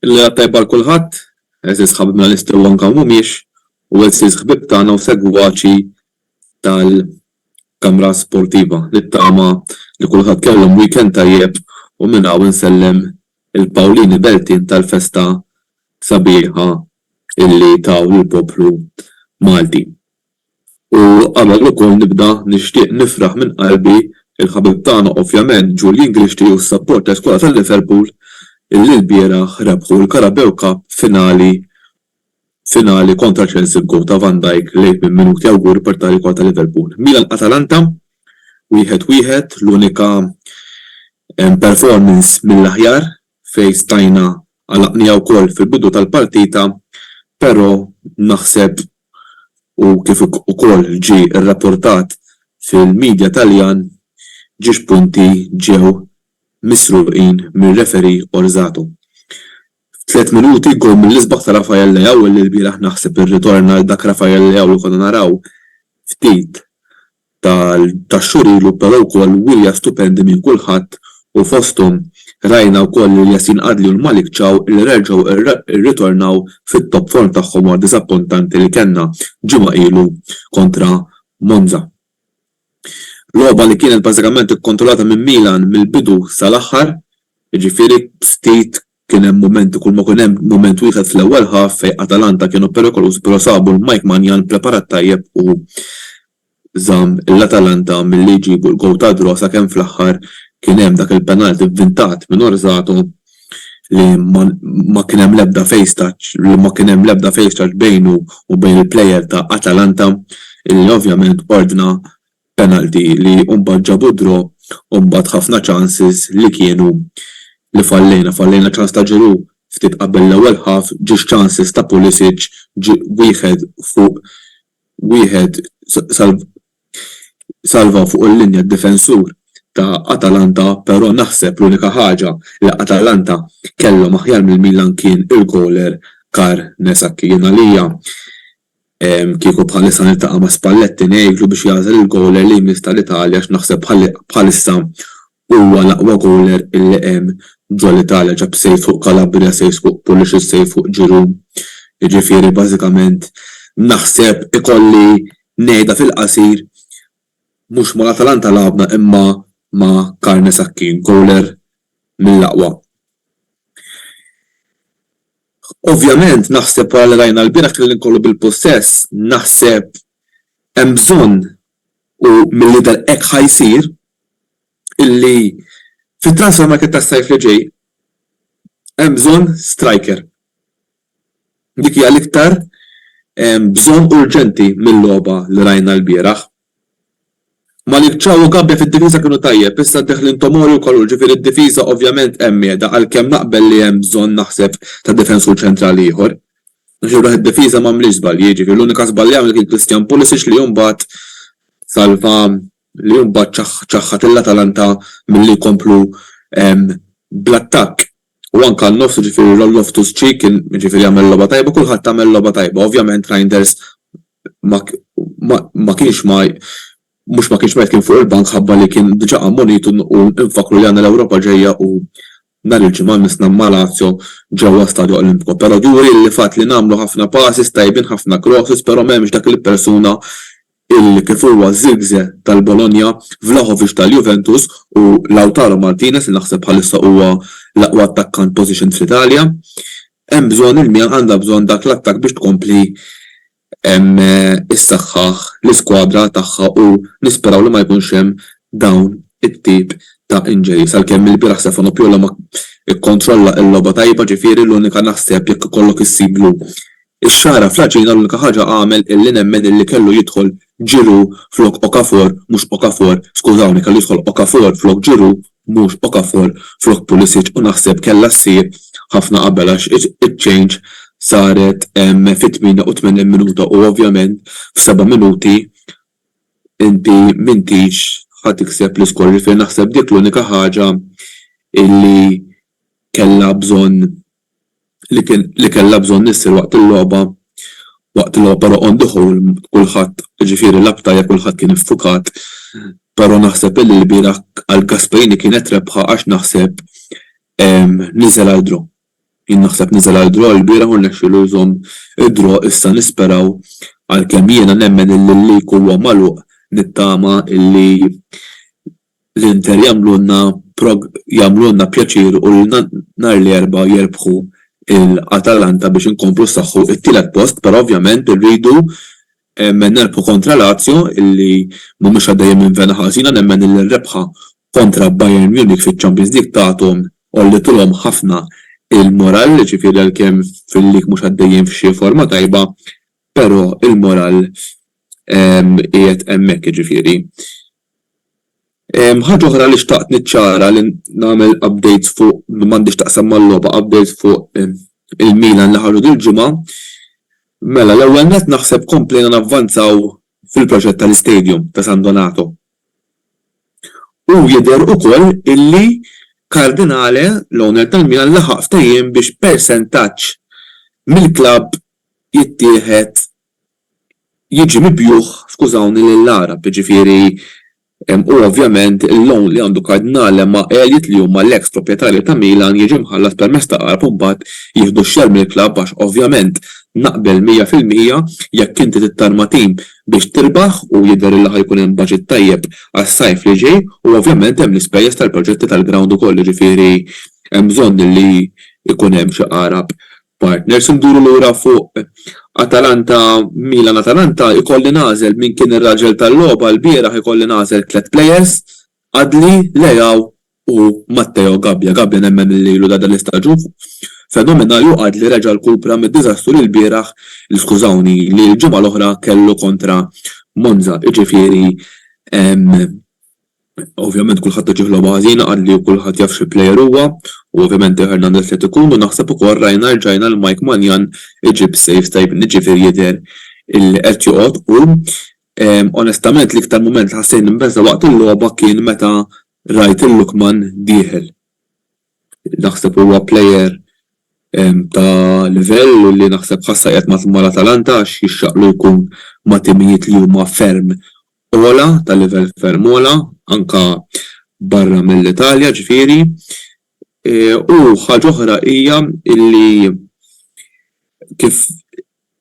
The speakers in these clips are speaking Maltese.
Il-Lejla Tajba għal kulħadd, għeżież ħabibna li setgħu anke hawn mhumiex u għeżież ħbieb tagħna u segwaċi tal-Kamra Sportiva. Nittama li kulħadd kellhom weekend tajjeb u minn hawn insellem il-Pawlini Beltin tal-festa sabiħa illi taw lill-poplu Malti. U qabel ukoll nibda nixtieq nifraħ minn qalbi il-ħabib tagħna ovvjament Julian Grixti u s-sapport ta' Iskola ta' Liverpool illi lbieraħ rebħu l-Carabeu Cup finali finali kontra Chelsea b'gowl ta' Van Dijk late minn minuti awguri per tali Iskola ta' Liverpool. Milan Atalanta wieħed wieħed l-unika performance mill-aħjar fejn stajna għalaqniha wkoll fil-bidu tal-partita pero naħseb u kif ukoll ġie rrapportat fil-media Taljan ġiex punti ġew misruqin mir-referee Orsato. F'tliet minuti goal mill-isbaħ ta' Rafael Leao li l-bieraħ naħseb irritorna għal dak Rafael Leao li konna naraw ftit ta' xhur ilu però wkoll wirja stupendi minn kulħadd u fosthom rajna wkoll lil Yasin Adli u l-Malik Thiaw li reġgħu rritornaw fit-top form tagħhom wara diżappuntanti li kellna ġimgħa ilu kontra Monza. Logħba li kienet bażikament ikkontrollata minn Milan mill-bidu sal-aħħar, jiġifieri ftit Kien hemm mumenti kulma kien hemm mument wieħed fl-ewwel half fejn Atalanta kienu perikolużi però sabu l-Mike Maignan preparat tajjeb u żamm lil Atalanta milli jġibu l-goal tad-draw sakemm fl-aħħar kien hemm dak il-penalty vvintat minn Orsato li ma kien hemm l-ebda face touch li ma kien hemm l-ebda face touch bejnu u bejn il-player ta' Atalanta illi ovvjament ordna Penalty li mbagħad ġabu d-draw u mbagħad ħafna chances li kienu li fallejna, fallejna ċans ta' Giroud ftit qabel l-ewwel half, ġiex chances ta' Pulisic, wieħed fuq wieħed salvaw fuq il-linja d-difensur ta' Atalanta però naħseb l-unika ħaġa li Atalanta kellhom aħjar mill-Milan kien il-goaler Carnesacchi. Jien għalija Kieku bħalissa niltaqa' ma' Spalletti ngħidlu biex jagħżel il-gowler li jmiss tal-Italja għax naħseb bħalissa huwa l-aqwa gowler li hemm ġol-Italja, ġab save fuq Calabria, saves fuq Pulisic, save fuq Giroud. Jiġifieri bażikament naħseb ikolli ngħidha fil-qasir Mhux mal-Atalanta lagħabna imma ma' Carne Sacchi, gowler mill-aqwa. Ovvjament naħseb wara li rajna lbieraħ kien l-inkollu bil-pussess, naħseb hemm bżonn u mill-jidher hekk ħa jsir illi fit-transfer market tas-sajf li ġej hemm bżonn striker. Dik hija l-iktar bżonn urġenti mil-logħba li rajna lbieraħ. Malik Thiaw u Gabbia fid-difiża kienu tajjeb, issa ddeħlin Tomori u Kalulu ġifieri d-difiża ovvjament hemm qiegħda għalkemm naqbel li hemm bżonn naħseb ta' difensur ċentrali ieħor. Għax jien raħ id-difiża m'għamlitx żbalji, ġifieri l-unika żball li għamel kien Christian Pulisic li mbagħad salva li mbagħad ċaħħad il-Atalanta milli jkomplu bl-attakk u anke għan-nofs jiġifieri Loftus-Cheek kien jiġifieri għamel logħba tajba kulħadd għamel logħba tajba ovvjament Reijnders ma ma kienx ma mhux ma kienx mejt kien fuq il-bank ħabba li kien diġà ammonit u nfakkru li għandna l-Ewropa ġejja u Nhar il-Ġimgħa missna ma' Lazio ġewwa Stadio Olimpico però di urieli li fatt li nagħmlu ħafna passes tajbin ħafna crosses però m'hemmx dak il-persuna il kif huwa Zirkzee tal-Bologna, Vlahovic tal-Juventus u Lautaro Martinez li naħseb bħalissa huwa l-aqwa attakkant positioned fl-Italja. Hemm bżonn il-Milan għandha bżonn dak l-attakk biex tkompli issaħħaħ l-iskwadra tagħha u nisperaw li ma jkunx hemm dawn it-tip ta' injuries. Għalkemm ilbieraħ Stefano Pioloma kkontrolla l-logħba tajba ġifieri l-unika naħseb jekk ikollok issiblu x-xagħra fl-għaġina l-unika ħaġa għamel illi nemmen illi kellu jidħol Giroud flok Okafor mhux Okafor skużawni kellu jidħol Okafor flok Giroud mhux Okafor flok Pulisic u naħseb kellha ssir ħafna qabel għax iċ-change saret fit-88 minuta u ovvjament f'seba' minuti inti m'intix ħa tikseb l-iskor ġifieri naħseb dik l-unika ħaġa li kellha bżonn li kellha bżonn issir waqt il-logħba waqt il-logħba però on the whole kulħadd jiġifieri lagħab tajjeb kulħadd kien iffukat però naħseb illi lbieraħ għal Gasperini kienet rebħa għax naħseb niżel għal draw jien naħseb niżel għal draw lbieraħ u rnexxielu jżomm id-draw issa nisperaw għalkemm jiena nemmen illi l-league huwa magħluq nittama illi L-Inter jagħmlulna prog jagħmlulna pjaċir u lilna nhar l-Erbgħa jirbħu l Atalanta biex inkomplu nsaħħu t-tielet post però ovvjament irridu nerbħu kontra Lazio illi mhumiex għaddejjin minn vena ħażina nemmen illi r-rebħa kontra Bayern Munich fiċ-Champions League tagħthom għollitilhom ħafna l-moral jiġifieri għalkemm fil-league mhux għaddejjin f'xi forma tajba però l-moral qiegħed hemmhekk jiġifieri Ħaġa oħra li xtaqt niċċara li nagħmel update fuq li m'għandhiex x'taqsam mal-logħba, update fuq il-Milan li ħarġu dil-ġimgħa. Mela, l-ewwel nett naħseb komplejna navvanzaw fil-proġett tal-istadium ta' San Donato. U jidher ukoll illi Cardinale, l-owner tal-Milan, laħaq ftehim biex persentaġġ mill-klabb jittieħed jiġi mibjugħ, skużawni, lill-Għarab, jiġifieri hu ovvjament il-loan li għandu Cardinale ma' għeljiet li huma l-eks proprjetarji ta' Milan jiġi mħallas permezz ta' Għarab u mbagħad jieħdu x-share mill-klabb għax ovvjament naqbel 100% jekk inti tittarma tim biex tirbaħ u jidher illi ħa jkun hemm budget tajjeb għas-sajf li ġej u ovvjament hemm l-ispejjeż tal-proġetti tal-ground ukoll jiġifieri hemm bżonn illi jkun hemm xi Għarab partners u nduru lura fuq Atalanta Milan Atalanta jkolli nagħżel min kien ir-raġel tal-logħba lbieraħ ikolli nagħżel tliet players Adli Leao u Matteo Gabbia Gabbia nemmen li ilu da dal-istaġun fenomenali u Adli reġa' rkupra mid-diżastru li lbieraħ li skużawni li l-ġimgħa l-oħra kellu kontra Monza jiġifieri Ovvjament kulħadd iġih logħba ħażina qalli u kulħadd jaf xi plejer huwa u ovvjament Theo Hernandez qed ikun u naħseb ukoll rajna rġajna lil Mike Maignan iġib saves tajbin jiġifieri jidher illi qed joqgħod u onestament l-iktar mument li ħassejt nimbeżża' waqt il-logħba kien meta rajt il-Lookman dieħel. Naħseb huwa plejer ta' livell u li naħseb ħassha qiegħed mal-Atalanta għax jixraqlu jkun ma' timijiet li huma ferm ogħla, ta' livell ferm ogħla, anke barra mill-Italja ġifieri. U ħaġa oħra hija li kif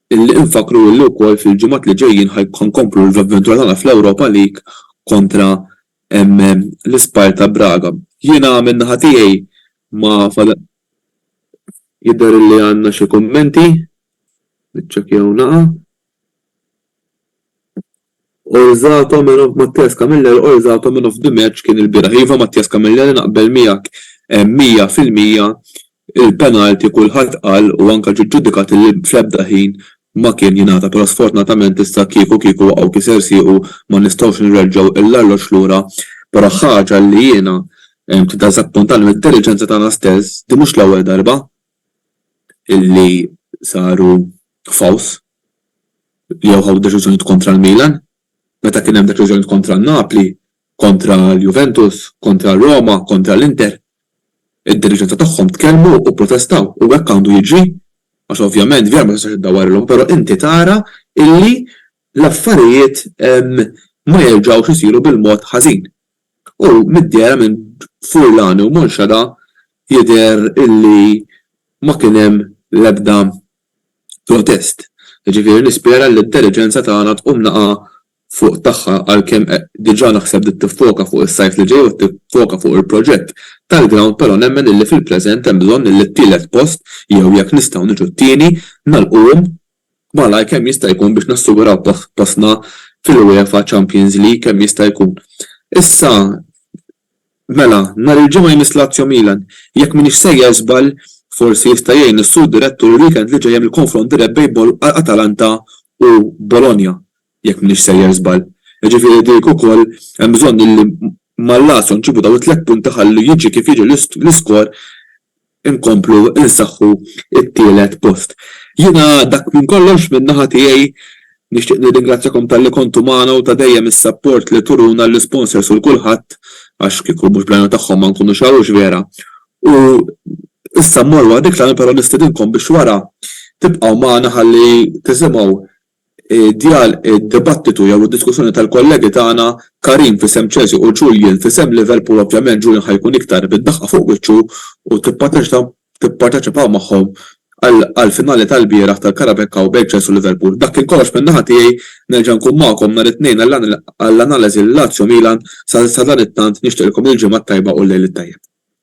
li infakkru li wkoll fil-ġimgħat li ġejjin ħa nkomplu l-avventura tagħna fl-Europa League kontra l-isptar ta' Braga. Jiena min-naħa tiegħi ma fadal. Jidher illi għandna xi kummenti. Niċċekkjaw naqa'. Orzato man of Mattias Camilleri Orzato man of the match kien ilbieraħ. Iva Mattias Camilleri naqbel miegħek 100 fil-mija Il-penalty kulħadd qal u anke ġie ġġudikat li fl-ebda ħin ma kien jingħata però sfortunatament issa kieku kieku waqgħu kiser siequ ma nistgħux nirreġġgħu l-arloġġ lura però ħaġa li jiena tiddiżappuntani mid-diriġenza tagħna stess din mhux l-ewwel darba li saru fouls jew ħadu deċiżjonijiet kontra l-Milan. Meta kien hemm deċiżjonijiet kontra n-Napli Kontra l-Juventus, kontra r-Roma, kontra l-Inter, id-diriġenza tagħhom tkellmu u pprotestaw u hekk għandu jiġri għax ovvjament vera ma tistax iddawwarlhom però inti tara illi l-affarijiet ma jerġgħux isiru bil-mod ħażin. U mid-dehra minn Furlan u Monxada jidher illi ma kien hemm l-ebda protest. Jiġifieri nispera li d-diriġenza tagħna tqum naqgħa fuq tagħha għalkemm diġa naħseb li tiffoka fuq is-sajf li ġej u tiffoka fuq il-proġett tal-ground però nemmen illi fil-preżent hemm bżonn illi t-tielet post jew jekk nistgħu niġu t-tieni nagħlquhom malajr kemm jista' jkun biex nassiguraw postna fil-UEFA Champions League kemm jista' jkun. Issa Mela, nhar il-Ġimgħa jmiss Lazio Milan. Jekk m'iniex sejjer żball, forsi jista' jgħin is-Sur Direttur il-weekend li ġej hemm il-konfront dirett bejn Atalanta u Bologna, jekk m'iniex sejjer żball. Jiġifieri dik ukoll hemm bżonn illi mal-Lazio nġibu dawn it-tliet punti ħalli jiġi kif jiġi l-iskor. inkomplu nsaħħu t-tielet post. Jiena dak minn kollox min-naħa tiegħi. Nixtieq nirringrazzjakom talli kontu magħna u ta' dejjem is-sapport li turuna l-isponsors u 'l kulħadd għax kieku mhux bl-għajnuna tagħhom ma nkunux hawn hux vera? U issa mmorru għal dik l-għan però nistedinkom biex wara tibqgħu magħna ħalli tisimgħu id-dibattitu jew id-diskussjoni tal-kollegi tagħna Karim f'isem Chelsea u Julian f'isem Liverpool ovvjament Julian ħa jkun iktar bid-daqqa fuq wiċċu u tipparteċipaw magħhom għall-finali tal-bieraħ tal-Carabao Cup bejn Chelsea u Liverpool. Dak kien kollox minn naħa tiegħi, nerġa' nkun magħkom nhar it-Tnejn għall-analiżi Lazio-Milan, sadanittant nixtieqilkom il-ġimgħa t-tajba u l-lejl it-tajjeb.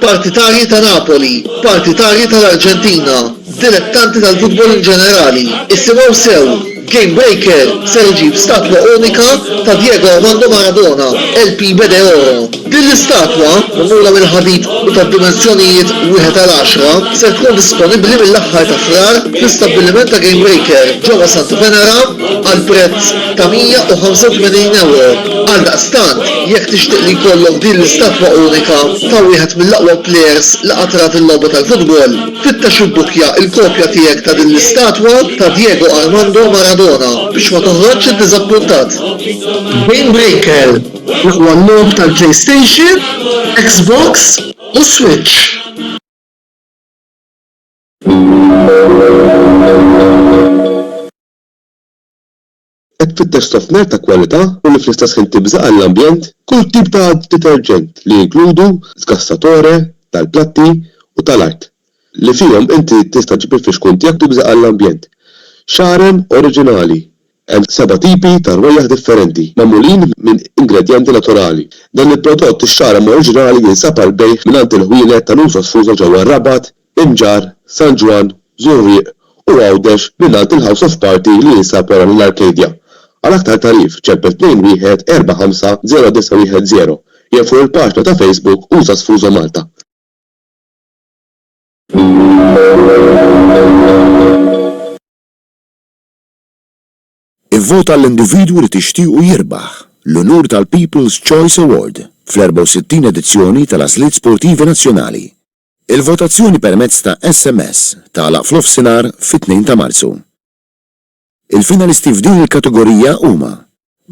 Partitarji ta' Napoli, partitarji tal-Arġentina, dilettanti tal-futbol in ġenerali, isimgħu sew, Game Breaker ser iġib statwa unika ta' Diego Armando Maradona, El Pibe de Oro. Din l-istatwa, magħmula mill-ħadid u ta' dimensjonijiet wieħed għal għaxra, ser tkun disponibbli mill-aħħar ta' Frar fl-istabbiliment ta' Game Breaker ġewwa Santa Venera għal prezz ta' 185 ewro. Għaldaqstant, jekk tixtieq li jkollok din l-istatwa unika ta' wieħed mill-aqwa plejers li qatt rat il-logħba tal-futbol, fittex u bbukja l-kopja tiegħek ta' din l-istatwa ta' Diego Armando Maradona biex ma toħroġx iddiżappuntat. Game Breaker, l-aqwa logħob tal-PlayStation, Xbox u Switch. Qed tfittex sofner ta' kwalità u li fl-istess ħin tibża' għall-ambjent? Kull tip ta' deterġent li jinkludu sgassatore tal-platti u tal-art, li fihom inti tista' ġġib il-fixkun tiegħek tibża' għall-ambjent. Xaren oriġinali, hemm seba' tipi ta' rwejjaħ differenti, magħmulin minn ingredjenti naturali. Dan il-prodott ix-xaren oriġinali jinsab għall-bejgħ mingħand il-ħwienet ta' Nusa Sfuża ġewwa r-Rabat, Inġarr, San Ġwann, Żurrieq u Għawdex mingħand il-House of Party li jinsab wara lil Arcadia. Għal aktar tagħrif ċempel 21 450 910 jew fuq il-paġna ta' Facebook Usa Sfuso Malta. Ivvot għall-individwu li tixtiequ jirbaħ l-unur tal-People's Choice Award fl-64 edizzjoni tal-Għażliet Sportivi Nazzjonali. Il-votazzjoni permezz ta' SMS tagħlaq f'nofsinhar fit-Tnejn ta' Marzu. Il-finalisti f'din il-kategorija huma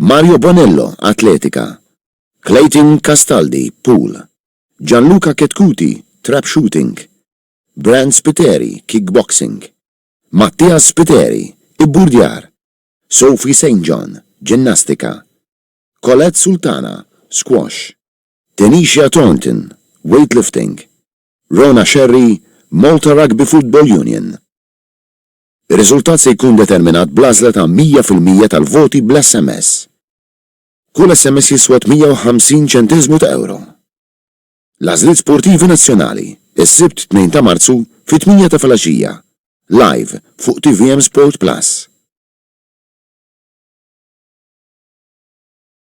Mario Bonello, Atletika, Clayton Castaldi, Pool, Gianluca Chetcuti, Trap Shooting, Brand Spiteri, Kickboxing, Mattias Spiteri, Ibburdjar, Sophie St. John, Ġinnastika, Colette Sultana, Squash. Denisha Thornton, Weightlifting, Rona Scerri, Malta Rugby Football Union. Ir-riżultat se jkun determinat bl-għażla ta' 100 fil-mija tal-voti bl-SMS. Kull SMS jiswa 58 ċenteżmu ta' ewro. L-għażliet sportivi nazzjonali, is-Sibt 2 ta' Marzu fit-tmienja ta' filgħaxija, live fuq tvm Sport Plus.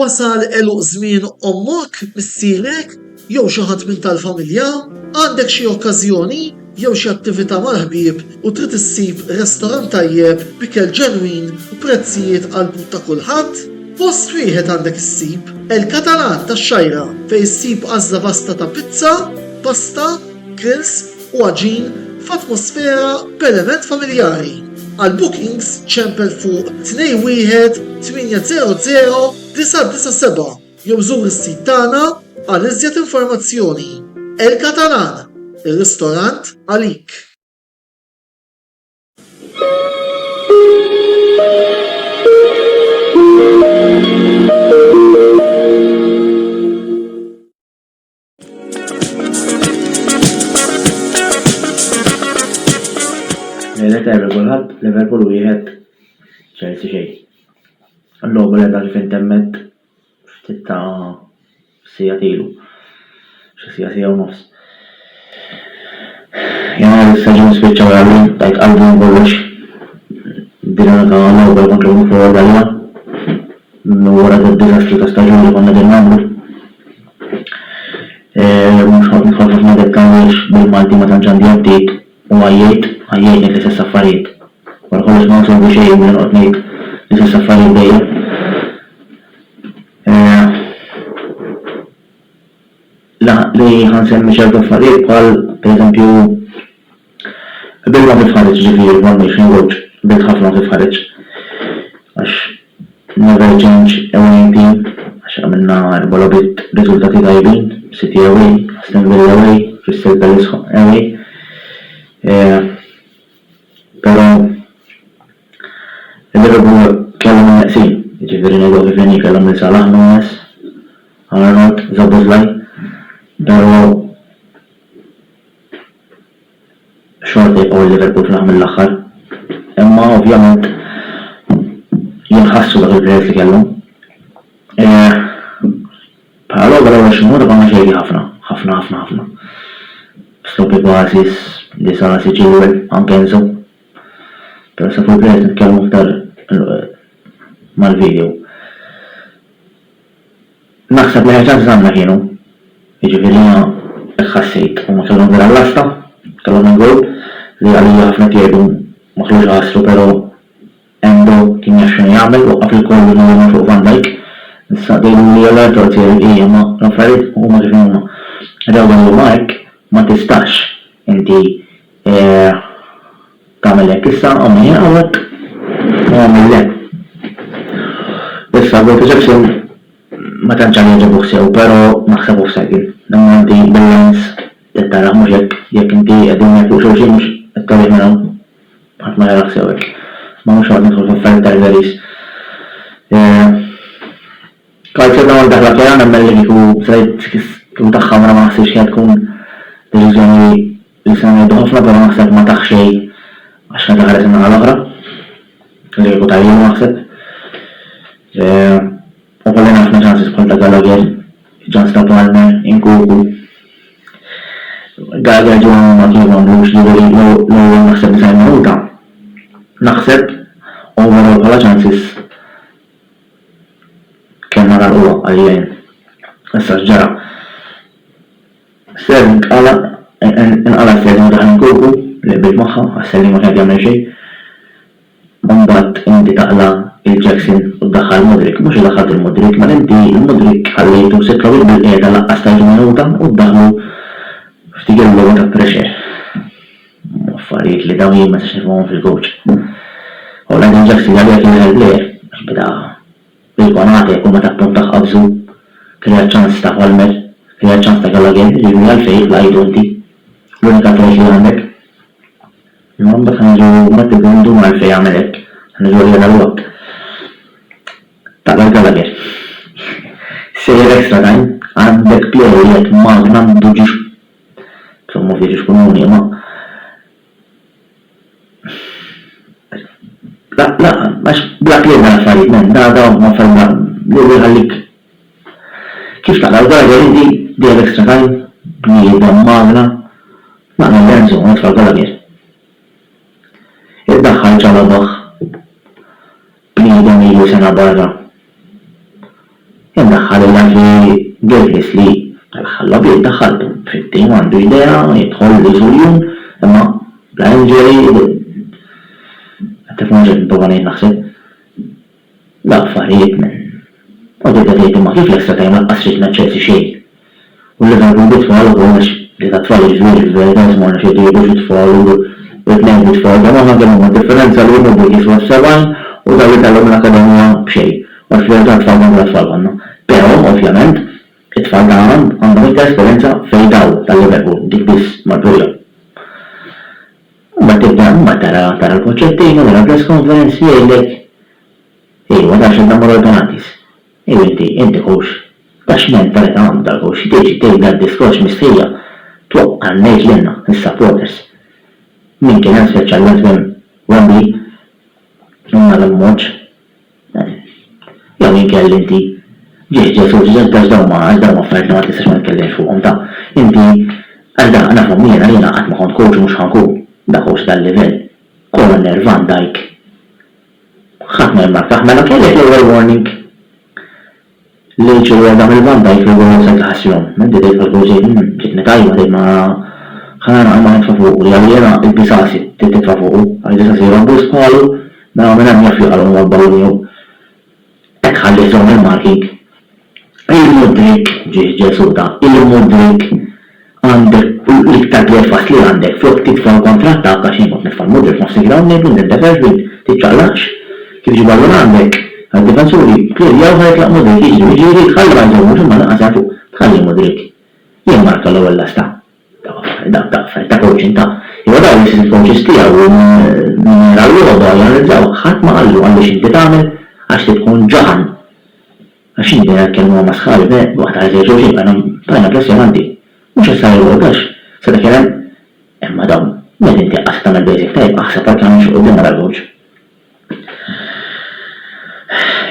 Wasal għeluq żmien ommok, missierek, jew xi ħadd minn tal-familja? Għandek xi okkażjoni jew xi attività mal-ħbieb u trid issib restorant tajjeb b'ikel ġenwin u prezzijiet għall-but ta' kulħadd? Post wieħed għandek issib, El Catalan tax-Xgħajra, fejn issib għażla vasta ta' pizza, pasta, grills, u għaġin f'atmosfera b'element familjari. Għal bookings ċempel fuq 218000997 jew żur is-sit tagħna għal iżjed informazzjoni. El Catalan, ir-ristorant għalik! Lejla terri kulħadd Liverpool wieħed ċerti xejn. L-logħba li għadha fejn temmet ftit ta' sija tilu. Xi sija sija u nofs. Jena l-istaġun spiċċa għalli, tajt qalbi kollox. Dina ta' l-logħba kontra l-fuq għalja. Minn wara d-disastru ta' staġun li konna din nagħmlu. Mhux noqgħod nidħol f'ħafna dettalji għaliex bil-Malti ma tantx għandi għaddiet u għajjejt, għajjejt ngħid l-istess affarijiet. Wara kollox ma nsolvi xejn billi noqgħod ngħid l-istess affarijiet dejjem. Laħaq li ħa nsemmi ċertu affarijiet bħal, pereżempju, Bilt ma titħarġx ġifieri m'għandniex nogħġ bilt ħafna ma titħarġx għax never change a winning team għax għamilna erba' logħbiet b'riżultati tajbin, City away, Aston Villa away, Crystal Palace away eh però il-Liverpool kellhom in-neqsin jiġifieri ngħiduha kif inhi kellhom lil Salah, Nunez, Arnold, Szoboszlai però Xorta jibqgħu il-Liverpool fl-aħħar mill-aħħar. Imma ovvjament jinħassu dawk il-players li kellhom. Bħala logħba l-ewwel xi nota konna xejri ħafna, ħafna ħafna ħafna. Sloppy passes, Disasi, Chilwell, anke Enzo. Però sa fuq il-players nitkellmu aktar mal-video. Naħseb li ħerġat żgħanna kienu. Jiġifieri jiena hekk ħassejt. Huma kellhom vera l-lasta, kellhom il-goal li għalija ħafna qed jgħidu ma kellux iħassru però Endo kien jaf x'inhu jagħmel, waqqaf il-kollu li rema fuq Van Dijk. Issa tgħidu li Haller portier ija ma l-affarijiet huma kif huma. Rew dal-ilma hekk ma tistax inti Tagħmel hekk issa, ommni hawnhekk, u agħmel le. Issa, Walter Jackson ma tantx għad jogħġobuh sew, però naħseb hu f'segħin. Imma inti bil-lens trid tarah, mhux hekk? Jekk inti qegħdin hawnhekk fuq xulxin mhux qed torih minn hawn? Ħadd ma jarah sew hekk. Ma mhux noqgħod nidħol f'affarijiet tal-veris. Kajser dawn id-daħla tiegħu nemmen li kieku se kieku tagħha mela ma naħsibx kienet tkun deċiżjoni Nista' ngħidlu ħafna però naħseb ma tah xejn għax meta ħares in-naħa l-oħra kellu jieħu tajjeb naħseb. U kollina ħafna ċanses bħal ta' Gallagher, iċ-ċans ta' Palmer, Nkunku. Gallagher ġie magħmuma kif għamlux jiġifieri l-ewwel naħseb 90 minuta naħseb overall bħala ċanses kellna nagħlquha għalija jien. Issa x'ġara? Ser inqala' inqala' s-sejf ma' daħan il-kruku li qbilt magħha għax ser jien ma kien qed jagħmel xejn. Imbagħad inti taqla' lil Jackson u ddaħħal Mudryk. Mhux li daħħalt lil Mudryk, mela inti lil Mudryk ħallejtu se trawwieħ bil-qiegħda laqqas tajtu minuta u ddaħħlu f'dik il-logħba ta' pressure. Affarijiet li dawn jien ma nistax nifhimhom fil-coach. U l-għajn ta' Jackson li għaliha kien l-aħjar player għax beda Bil-Konate u meta tkun taqqabżu, kreat ċans ta' Holmer, kreat ċans ta' Gallagher, jiġifieri għalfejn jibqa' għidu inti? L-unika tort li għandek. Imma mbagħad ħa niġu Matthew Granduma għalfejn għamel hekk, ħa niġu għalih għal Watt. Taqbel Gallagher. Sejjer extra time, għandek plejer li qed magna m'għandu ġiex, insomma ovvja ġiex komuni, imma. Għax bla kliem l-affarijiet m'hemm nagħda u m'affarijiet li jħallik Kif taqra' l-Garden inti? Do you have extra time? Bniedem magna? Naqra Lorenzo, nitfa' l-galabier. Iddaħħal ġo logħob. Bniedem ilu sena barra. Indaħħal il-laġi bil-ħlief li, tal-aħħar l-għabied daħħaltu. Fittie m'għandu idea, jidħol li jżur jum, imma bla injury, kif noġgħod nipprova ngħid naħseb, l-affarijiet minn. Kont qed ngħid imma kif lesta tgħin laqqas trid naċċerti xejn. U li ngħidu lit-tfal ukoll għax li tat-tfal jiġri fil-verità isma' nafx jekk jgħidux it-tfal u l-bniet bit-tfal kemm aħna kemm huma d-differenza li huma bdiew jixbhu għas-70 u dawn li tellgħu mill-akkademija b'xejn għax fil-verità t-tfal konna bla tfal konna. Però, ovvjament, it-tfal ta' għada għandhom iktar esperjenza fejn dawn ta' llum jaqblu dik biss mal-bqija. Mbagħad tibda mbagħad tara tara l-concertino tara l-press conference jgħidlek ejwa tara x'għandna mmorru għall-penalties. Inti, inti hux. Da x'ment ta' età għandha u xi tiġi tgħidna d-diskors mistħija? Twaqqa' ngħid lilna, lis-supporters. Min kien hemm speċjalment minn Wembley u mal-Ammont. Jew inkella inti. Ġieħ Ġesù, ġieħ Ġesù għax dawn ma, għax dawn affarijiet li ma tistgħax ma titkellimx fuqhom da. Inti, għax da, nafhom jiena, jiena qatt ma kont coach u mhux ħa nkun. Da hux dal-livell. Koronervan dajk. Ħadd ma jemmgħak aħ mela kellek l-ewwel warning lil ġewwa dan il-van dajk li wara wasalt l-aħħas jom. Inti dejt bħal kull xejn mm ġitni tajba dejt ma ħa nagħlaq imma nitfa' fuqu jaf li jiena il-bisasi trid titfa' fuqu għax bisasi jrobbu s-sqalu mela minn hemm jaf jaqalgħu mal-ballun jew Hekk ħallithom il-Maġik. Il-Mudrik, ġiex Ġesù ta il-Mudrik, għandek l-iktar breakfast li għandek flok tidfa' l-kontrattak għax jien kont nitfa' l-Mudrik f'nofs il-ground ngħidlu inti nteferx bint, tiċċaqlaqx, kif ġibu allura għandek għad-difensuri klirjaw ħa jitlaq Mudrik jiġri jiġifieri tħalli ma jżommux imma lanqas jagħtu tħalli Mudrik jimmarka l-ewwel lasta. ta' taqfel, ta' coaching, ta' jew araw li jsir il-coaches tiegħu u min jara l-logħba janalizzawh, ħadd ma qallu għandu x'inti tagħmel għax trid tkun ġaħan. Għax x'inhi din il-kelma masħali, beh, waqt għajt lejn xulxin bqajna bqajna impressjonanti. Mhux issa li l-ewwel għax sa dak il-hemm imma dawn meta inti qatt tagħmel basic tajjeb aħseb għal kemm imxi quddiem wara l-coach.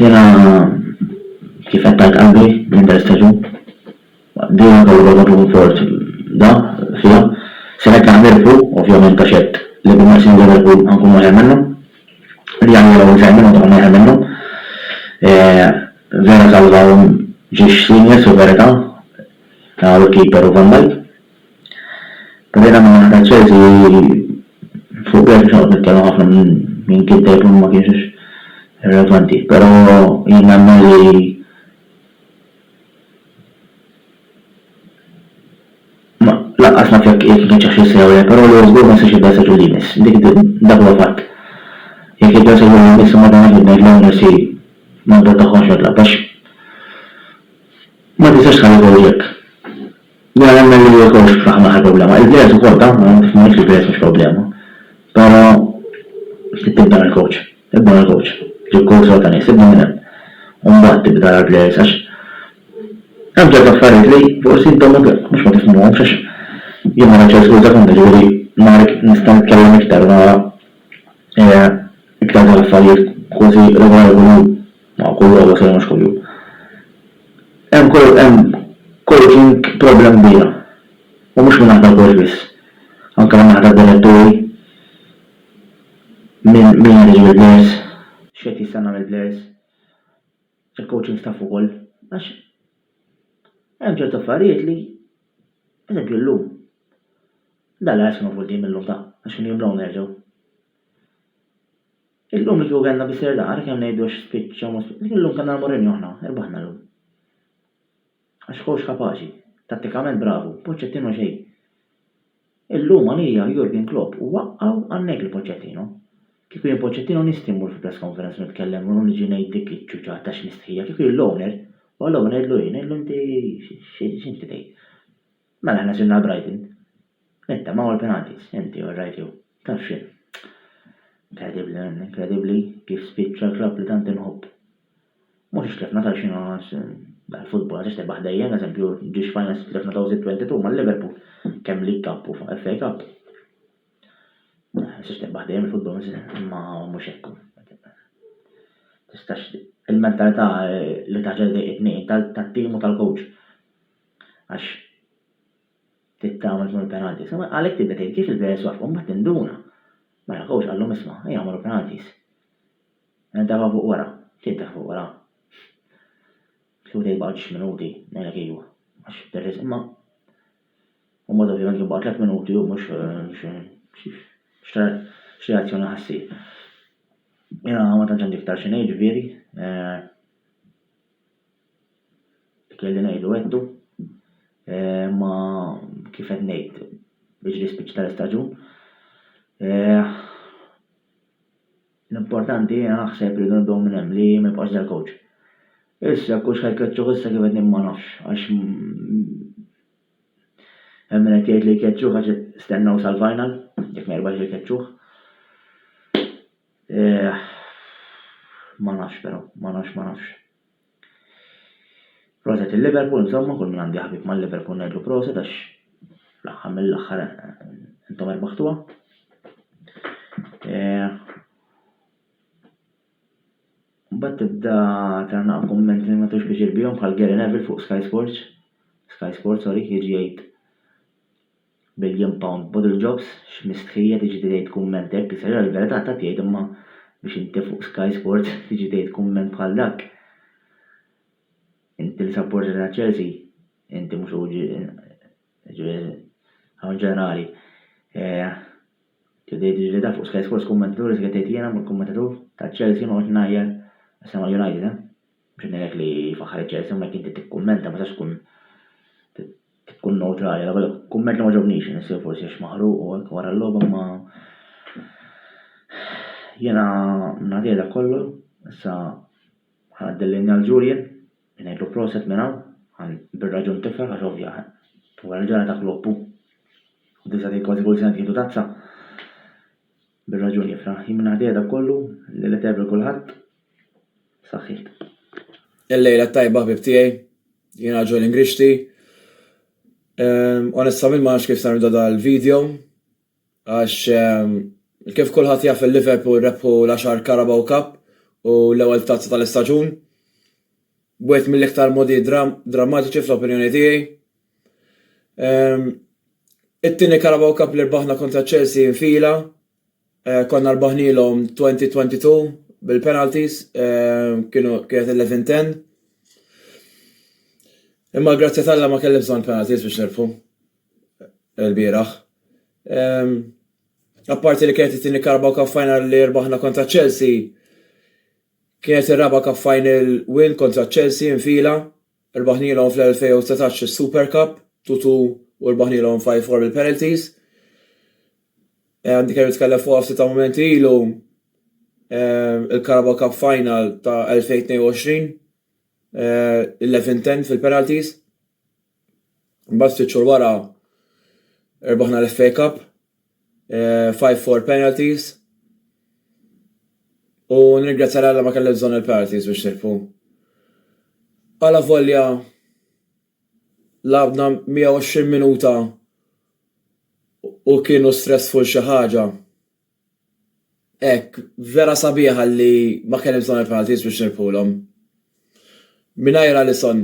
Jiena kif għedt għajt qalbi minn dan l-istaġun. Din hija talba ta' dun fors da fiha. Se hekk aħna nirbħu, ovvjament għax hekk li bil-mod se nirbħu ħa nkunu aħjar minnhom. Li aħna nilgħbu aħjar minnhom se nkunu aħjar minnhom. Vera salvahom Jiġ Seniors fil-verità ta' u Keeper u Van Dijk. Però jiena min-naħa ta' Chelsea fuq Bergh mhux ħanoqgħod nitkellem ħafna minn kien tajjeb u min ma kienx għax irrelevanti. Però jien nemmen li Lanqas naf jekk qiegħed ifittxex lil Sewre, però li hu żgur ma jistax jibda s-seġul li jmiss. Dik dak huwa fatt. Jekk jibda s-seġul li jmiss imbagħad aħna ġid ngħidlu hawn irsi ma nbentaħħomx notlab għax ma tistax tħalli żewġek. Jien nemmen li żewġ ifraħ ma l-aħħar problema. Il-players ukoll ta', ma nafx ma ngħidx li l-players mhux problema. Però tibda mill-coach. Ibda mill-coach. Ġib coach sew ta' nies. Ibda minn hemm. U mbagħad tibda tara l-players għax hemm ċertu affarijiet li forsi intom mhux ma tifhmuhomx għax jien ma nafx il-iskuża tagħkom jiġifieri nhar nista' nitkellem iktar u nara iktar dal-affarijiet kważi regola regola. Ma kull logħba sewwa mhux kuljum. Hemm coach hemm coaching problem kbira. U mhux minn naħa tal-coach biss. Anke minn naħa tad-diretturi. Min min qed iġib il-plejers. X'qed jistenna mill-plejers. Il-coaching staff ukoll. Għax hemm ċertu affarijiet li pereżempju llum. Dallas kienu f'quddiem illum ta' għax kienu jimlgħu nerġgħu. Illum li kieku kellna biss irdar, kemm ngħidu għax spiċċa u ma spiċċax, illum kellna l-Mourinho aħna, irbaħna llum. Għax coach kapaċi, tattikament bravu, Pochettino xejn. Illum għalija Jurgen Klopp huwa aqaw għan-negħ li Pochettino. Kieku jien Pochettino nistħi mmur fil-press conference u nitkellem u niġi ngħid dik iċ-ċuċa ta' x'mistħija, kieku jien l-owner, u għall-owner ngħidlu jien, ngħidlu inti x'inti tgħid? Mela aħna sirna l-Brighton. Nittamaw il-penalties, inti u r-right jew. Taf x'in. Inkredibbli, inkredibbli kif spiċċa l-klabb li tant inħobb. Mhux għax tlifna taf x'inhu għax dal-futbol għax tebaħ dejjem, eżempju, ġiex finals tlifna 2022 ma' Liverpool, kemm League Cup u FA Cup. Għax tebaħ dejjem il-futbol imma mhux hekk hu. Tistax il-mentalità li taġel dejqitni tat-tim u tal-coach. Għax tittama jkunu penalties. Imma għalhekk tibda tgħid kif il-players waqfu mbagħad tinduna. Mela coach qallhom isma' ejja għamlu penalties. Nintefgħu fuq wara. X'intefgħu fuq wara? Kieku tgħid baqgħu ġiex minuti, ngħidlek iva. Għax terris imma u mod ovvjament kien baqgħu 3 minuti u mhux x'reazzjoni ħassir. Jena ma tantx għandi iktar xi ngħid ġifieri. Kelli ngħidu għedtu, imma kif qed ngħid biex l-ispiċċ tal-istaġun. L-importanti jiena naħseb li rridu nibdew minn hemm li ma jibqax dal-coach. Issa jekk hux ħajkeċċuh issa kif qed ngħid ma nafx għax hemm min qed jgħid li jkeċċuh għax stennew sal-final jekk ma jirbaħx ikeċċuh. Eħ, ma nafx però, ma nafx, ma nafx. Proset il-Liverpool, insomma, kull min għandu jaħbib mal-Liverpool ngħidlu proset għax l-aħħar mill-aħħar intom erbaħtuha. Mbagħad tibda trana kumment li ma tux biex bihom bħal Gary Neville fuq Sky Sports. Sky Sports, sorry, jiġi jgħid Billion pound bottle jobs, x'mistħija tiġi tgħid kumment hekk, issa jara l-verità ta' tgħid imma biex inti fuq Sky Sports tiġi tgħid kumment bħal dak. Inti li sapporta lil Chelsea, inti mhux hu ġifieri hawn ġenerali. Tiġi tgħid il-verità fuq Sky Sports kummentatur iżda tgħid jiena mhux kummentatur ta' Chelsea noqgħod ngħajjar issa ma' United eh. B'xi ngħidlek li jfaħħar iċ-ċer isemma jekk inti tikkummenta ma tistax tkun tkun newtrali għaliex dak kumment li ma ġobnix jien issir forsi għax maħruq u hekk wara l-logħba imma jiena ngħaddih dak kollu issa ħanaddi l-linja għal Julian li ngħidlu proset minn hawn għan bir-raġun tifraħ għax ovvja wara l-ġara ta' Klopp hu u disa' kważi kull sena tieħdu tazza Bir-raġun jifraħ Jim Nagħti għeda kollu li li tevri kulħadd saħħiet. Il-lejla t-tajba ħbib tiegħi, jien raġel Ingrixxi. Onestament ma nafx kif se nibda dal-video għax kif kulħadd jaf il-Liverpool rebħu l-għaxar Carabao Cup u l-ewwel tazza tal-istaġun. Wieħed mill-iktar modi drammatiċi fl-opinjoni tiegħi. Ehm, it-tieni Carabao Cup li rbaħna kontra Chelsea infila, eh, konna rbaħnilhom 2022 bil-penalties, eh, kienu kienet 11-10. Imma grazzja talla ma kelli bżonn penalties biex nirfu l-bieraħ. Ehm, apparti li kienet it-tieni Carabao Cup final li rbaħna kontra Chelsea, kienet ir-raba' Cup final win kontra Chelsea infila. Rbaħnilhom fl-2019 is-Super Cup, two two u rbaħnilhom five four bil-penalties. Għandi kemm nitkellem fuqha ftit ta' mumenti ilu il-Carabao Cup Final ta' 2022 11-10 fil-penalties. Mbagħad ftit xhur wara rbaħna l-FA Cup. Five four penalties. U nirgrazzja l-Alla ma kelli bżonn il-penalties biex nirpu. Alla volja labna 120 minuta u kienu stressful xi ħaġa. Ek, vera sabiħa li ma kelli bżonn il-penalties biex nirpulhom. Minajr Alisson,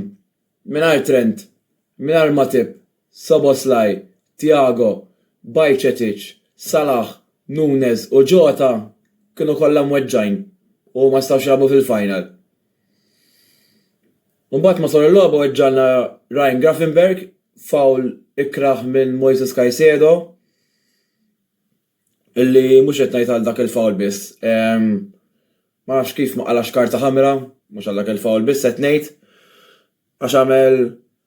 Mingħajr Trent, mingħajr Matip, Szoboszlai, Thiago, Bajcetic, Salah, Nunez u Jota kienu kollha mweġġgħin u ma setgħux jilagħbu fil-final. Imbagħad matul il-logħba weġġagħlna Ryan Gravenberch, foul ikrah minn Moises Caicedo. Illi mhux qed ngħid għal dak il-foul biss. Ma nafx kif ma qalax karta ħamra, mhux għal dak il-foul biss qed ngħid, għax għamel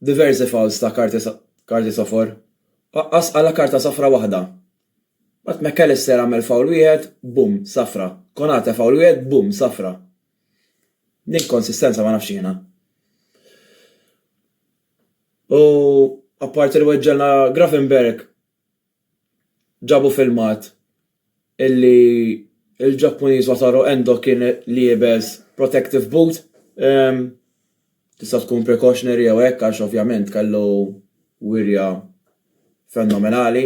diversi fouls ta' karti sofor. Aqqas qala' karta safra waħda. Mbagħad Mac Allister għamel foul wieħed, bum, safra. Konate foul wieħed, bum, safra. L-inkonsistenza ma nafx jiena. U apparti li weġġgħilna Gravenberch, Ġabu filmat illi l-Ġappuniż Wataru Endo kien liebes protective boot, tista' tkun precautionary jew hekk għax ovvjament kellu wirja fenomenali,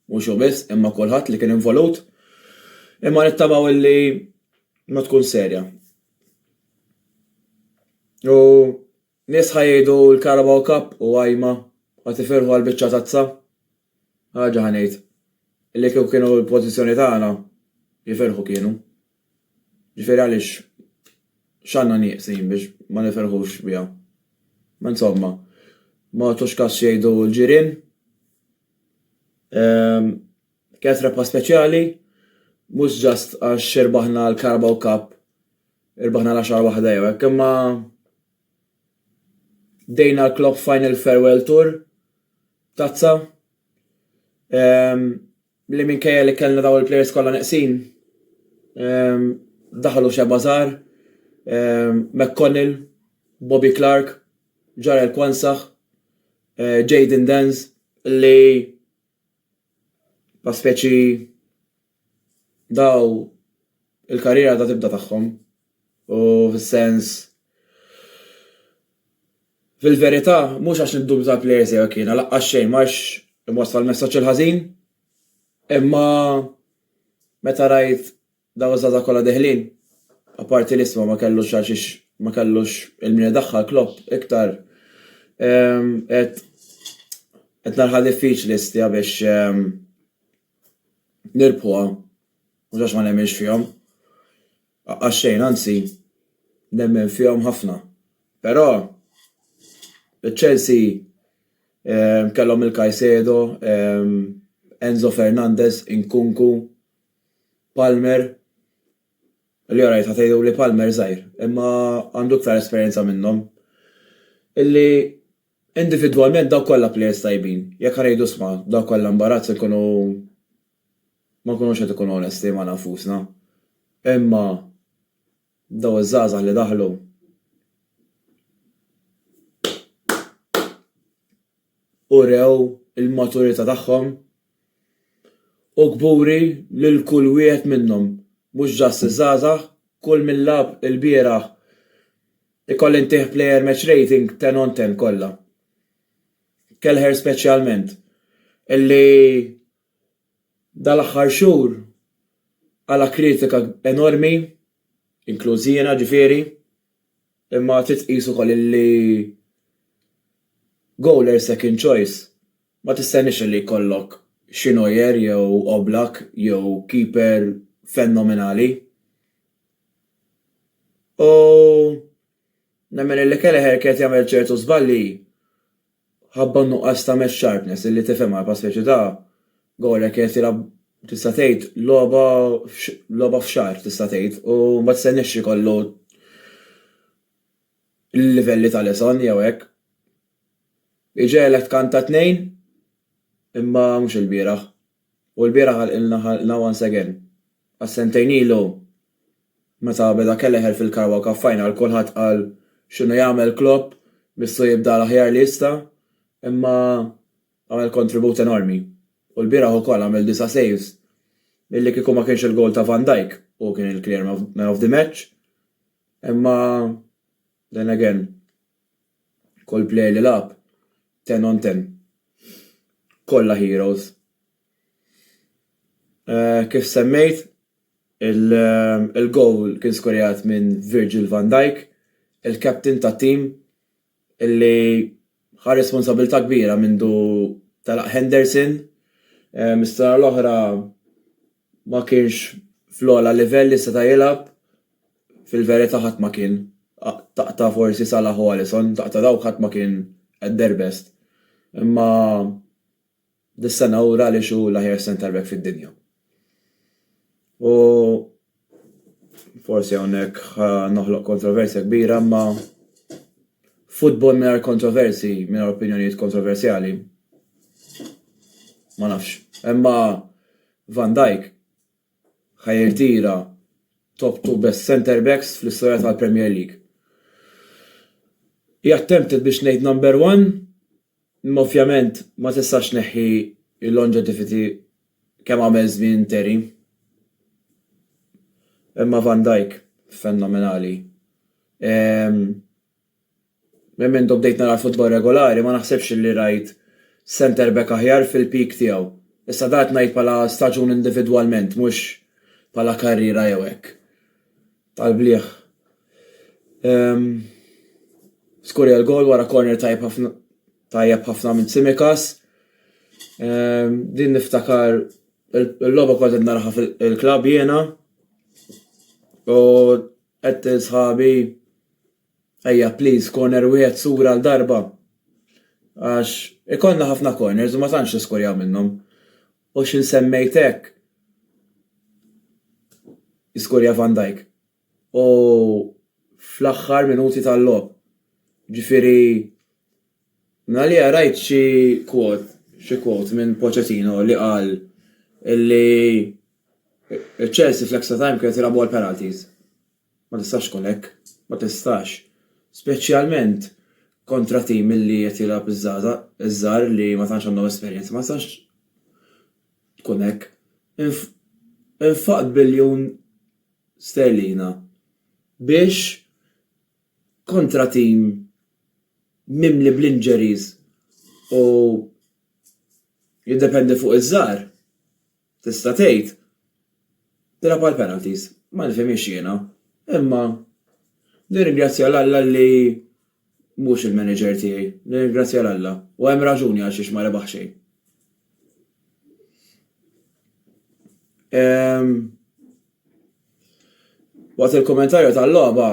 mhux hu biss imma kulħadd li kien involut, imma nittamaw illi ma tkun serja. U Nies ħa jgħidu l-Carabao Cup u għajma, ħa tifirħu għal biċċa tazza. Ħaġa ħa ngħid, li kieku kienu l-pożizzjoni tagħna, jifirħu kienu. Ġifieri għaliex x'għandna nieqsin biex ma nifirħux biha? Ma insomma, ma tagħtux kas x'jgħidu l-ġirien. Ehm, kienet rebħa speċjali, mhux ġast għax irbaħna l-Carabao Cup Irbaħna l-għaxar waħda jew hekk imma dejna l-Klopp Final Farewell Tour tazza li minkejja li kellna dawn il-plejers kollha neqsin daħlu xebgħa żgħar, McConnell, Bobby Clark, Jarell Quansah, Jayden Danns li bħala speċi daw il-karriera għadha tibda tagħhom u fis-sens fil-verità mhux għax niddubita tal-plejers jew hekk jiena laqqas xejn ma rridx inwassal il-messaġġ il-ħażin imma meta rajt daw iż-żgħażagħ kollha deħlin apparti l-isma ma kellux għal xiex ma kellux il-min idaħħal Klopp iktar qed qed nagħha diffiċli stija biex nirbħuha mhux għax ma nemminx fihom għaxxejn anzi nemmen fihom ħafna però Chelsea kellhom lil Kajsedo, Enzo Fernandez, Inkunku, Palmer li alright ħa tgħidu li Palmer żgħir imma għandu iktar esperjenza minnhom illi Individwalment dawk kollha players tajbin. Jekk ħa ngħidu isma' dawk kollha imbarazz inkunu ma nkunux qed ikunu onesti magħna nfusna. Imma daw iż-żgħażagħ li daħlu urew il-maturità tagħhom u kburi lil kull wieħed minnhom. Mhux just iż-żgħażagħ, kull min lagħab ilbieraħ Ikolli ntih player match rating ten on ten kollha. Kelleher speċjalment, illi dal-aħħar xhur qala' kritika enormi, inkluż jiena ġifieri, imma trid tqis ukoll illi goal her second choice. Ma tistenniex illi jkollok xi Neuer jew Oblak jew keeper fenomenali. U nemmen illi Kelleher kien qed jagħmel ċertu żbalji ħabba n-nuqqas ta' match sharpness illi tifhemha għal pass speċi ta' goal hekk qed jilgħab tista' tgħid logħba logħba f'xahar tista' tgħid u ma tistenniex ikollu il-livelli tal-iżon jew hekk. Iġegħlek tkanta t-tnejn imma mhux il-bieraħ. U l-bieraħ ħalqilna ħalqna once again. Għax sentejn ilu meta beda Kelleher fil-Carabao Cup Final kulħadd qal x'inhu jagħmel Klopp missu jibda l-aħjar li jista' imma għamel kontribut enormi. U l-bieraħ ukoll għamel disa' saves li kieku ma kienx il-gowl ta' Van Dijk, hu kien il-clear man of the match, Imma then again, kull player li lagħab, ten on ten, kollha heroes. Kif semmejt, il-goal kien skurjat minn Virgil van Dijk, il-captain tat-tim. illi ħa responsabbiltà kbira mindu telaq Henderson, is-sena l-oħra ma kienx fl-ogħla livell li seta' jilgħab, fil-verità ħadd ma kien, taqta' forsi Salah u Alisson, taqta' dawk ħadd ma kien at their best. Imma Dis-sena ura għaliex hu l-aħjar centre-back fid-dinja. U forsi hawnhekk noħloq kontroversja kbira imma futbol mingħajr kontroversi, mingħajr opinjonijiet kontroversjali. Ma nafx. Imma Van Dijk ħajrtira top 2 best center backs fl-istorja tal-Premier League. He attempted biex ngħid number one, Imma ovvjament ma tistax tneħħi l-longevity kemm għamel żmien Terry. Imma Van Dijk fenomenali. Ehm, minn mindu bdejt nara l-futbol regolari ma naħsibx li rajt centre back aħjar fil-peak tiegħu. Issa dan qed ngħid bħala staġun individwalment mhux bħala karriera jew hekk. tal-blieh. Ehm, skurja l-gol wara corner tajjeb ħafna tajjeb ħafna minn Tsimikas. Ehm, din niftakar il-logħba kont qed naraha fil-klabb jiena. U qed sħabi ejja please corner wieħed sura għal darba. Għax ikollna ħafna corners u ma tantx niskurjaw minnhom. U x'in semmejt hekk, iskorja Van Dijk. U fl-aħħar minuti tal-logħob. Ġifieri, mingħalija rajt xi quote, xi quote minn Pochettino li qal li Chelsea fl-extra time kienet tilgħabu għall-penalties. Ma tistax tkun hekk. Ma tistax. Speċjalment kontra tim li qed jilgħab iż-żgħażagħ, iż-żgħar li ma tantx għandhom esperjenza. Ma tistax tkun hekk. Inf, infaqt biljun sterlina biex kontra tim mimli bl-injuries u jiddependi fuq iż-żgħar. Tista' tgħid, Tilgħab għall-penalties. Ma nifhimhiex jiena. Imma nirringrazzja 'l Alla li mhux il-manager tiegħi. Nirringrazzja 'l Alla. U hemm raġuni għalxiex ma rebaħ xejn. Waqt il-kummentarju tal-logħba,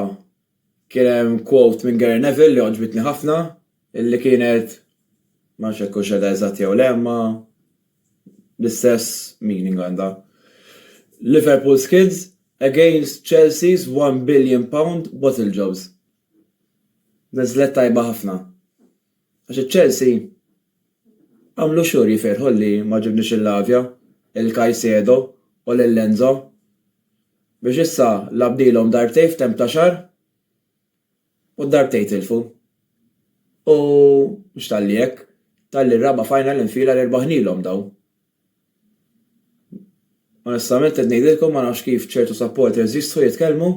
Kien hemm quote minn Gary Neville li għoġbitni ħafna, illi kienet, ma nafx jekk hux qegħda eżatt jew le, imma l-istess meaning għandha. Liverpool skids against Chelsea's one billion pound bottle jobs. Niżlet tajba ħafna. Għax iċ-Chelsea għamlu xhur jifirħu li ma ġibniex lil Lavia, lil Caicedo u lil Enzo biex issa lagħbnilhom darbtejn f'temp ta' xahar u d-darbtejn tilfu. U mhux talli hekk, talli r-raba' final infila li rbaħnilhom dawn. Onestament qed ngħidilkom ma nafx kif ċertu supporters jistħu jitkellmu.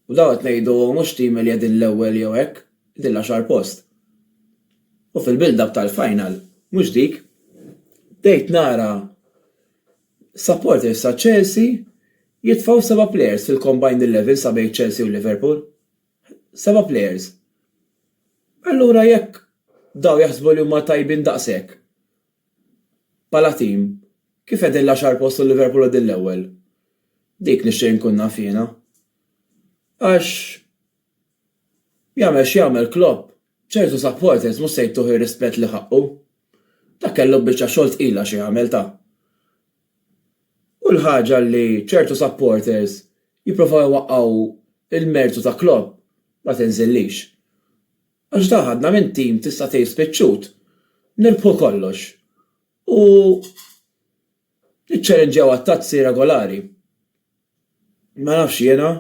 U dawn qed ngħidu mhux tim li qegħdin l-ewwel jew hekk, qegħdin l-għaxar post. U fil-build up tal-final, mhux dik, bdejt nara supporters ta' Chelsea jitfgħu seba' players fil-combined eleven sa bejn Chelsea u Liverpool. Seba' players. Allura jekk dawn jaħsbu li huma tajbin daqshekk, Bħala tim, kif qegħdin l-għaxar post u Liverpool qegħdin l-ewwel? Dik nixtieq inkun naf jiena. Għax jagħmel x'jagħmel Klopp, ċertu supporters mhux se jtuh ir-rispett li ħaqqu. Dak kellu biċċa xogħol tqila xi jagħmel ta. U l-ħaġa li ċertu supporters jipprovaw iwaqqgħu l-mertu ta' Klopp ma tinżillix. Għax dak għadna minn tim tista' tgħid spiċċut, nirbħu kollox u niċċalenġjaw għat-tazzi regolari. Ma nafx jiena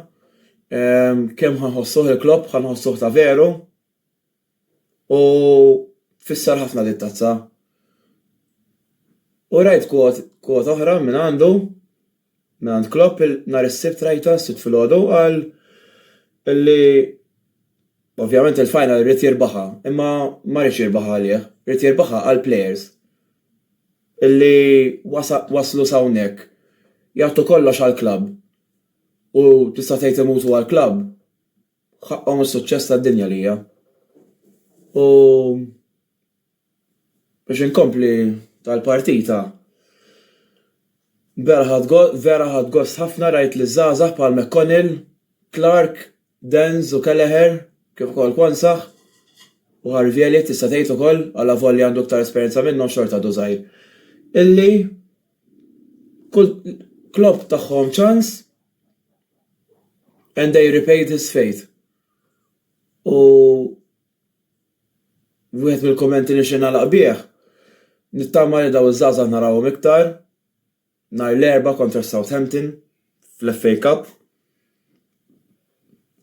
kemm ħa nħossuh il-Klopp, ħa nħossuh ta' veru u tfisser ħafna din it-tazza. U rajt kwota oħra mingħandu. Mingħand Klopp nhar is-Sibt rajtha, s-Sibt filgħodu, qal li ovvjament il-final ried jirbaħha imma ma riedx jirbaħha għalih, ried jirbaħha għall-players li waslu s'hawnhekk jagħtu kollox għall-klabb u tista' tgħid imutu għall-klabb. B'ħaqqhom is-suċċess tad-dinja lija. U biex inkompli tal-partita, vera ħadt gost ħafna rajt liż-żgħażagħ bħal McConnell, Clarke, Dance u Kelleher kif ukoll Quansah u Harvey Elliott tista' tgħid ukoll, allavolja għandu iktar esperjenza minnhom xorta għadu żgħir, illi kull club tagħhom ċans And they repaid his faith u wieħed mill-kummenti li nixtieq nagħlaq bih, nittama li dawn iż-żgħażagħ narahom iktar nhar l-Erbgħa kontra Southampton fl-FA Cup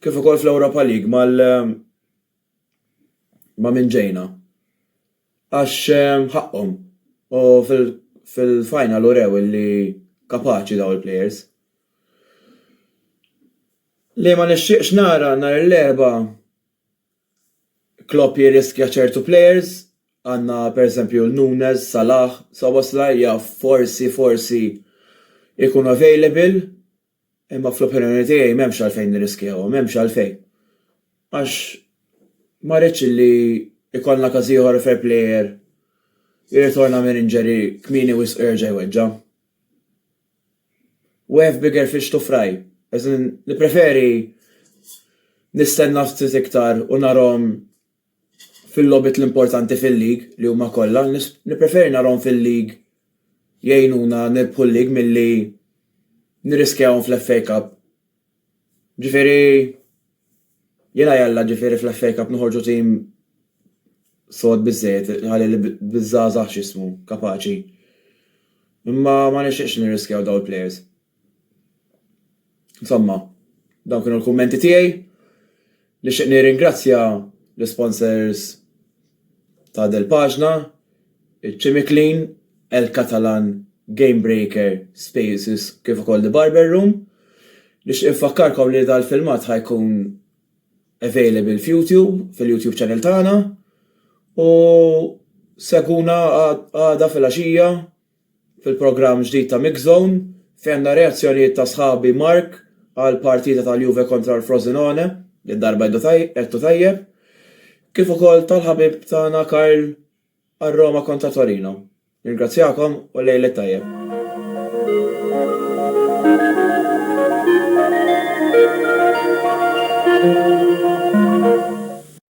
kif ukoll fl-Europa League ma' min ġejna. Għax ħaqqhom u fil-final urew li kapaċi dawn il-plejers. Li ma nixtieqx nara nhar l-Erbgħa Klopp jirriskja ċertu plejers, għandna pereżempju Nunez, Salah, Szoboszlai jaf forsi forsi jkun available. Imma fl-opinjoni tiegħi m'hemmx għalfejn nirriskjaw, m'hemmx għalfejn. Għax ma rridx li jkollna każ ieħor fejn plejer jirritorna minn injury kmieni wisq u jerġa' jweġġa'. We have bigger fish to fry. As in, nippreferi nistenna ftit iktar u narahom fil-logħbiet l-importanti fil-league li huma kollha nippreferi narahom fil-league jgħinuna nirbħu l-league milli nirriskjahom fl-FA Cup. Ġifieri jien għajalla ġifieri fl-FA Cup noħorġu tim sod biżżejjed ħalli biż-żgħażagħ x'ismu kapaċi. Imma ma nixtieqx nirriskjaw dawn il-plejers. Insomma, dawn kienu l-kummenti tiegħi. Nixtieq nirringrazzja l-isponsors ta' del paġna iċ-Ċimiklin, El Catalan, Game Breaker, Spaces kif ukoll The Barber Room. Nixtieq infakkarkom li dal-filmat ħa jkun available f'Youtube, fil-Youtube channel tagħna, u segwuna għada filgħaxija. fil-programm ġdid ta' Mixzone, fejn għandna reazzjonijiet ta' sħabi Mark għall-partita tal-Juve kontra l-Frosinone, dil-darba għedtu tajjeb, kif ukoll tal-ħabib tagħna Karl għar-Roma kontra Torino. Nirringrazzjakom u lejl it-tajjeb.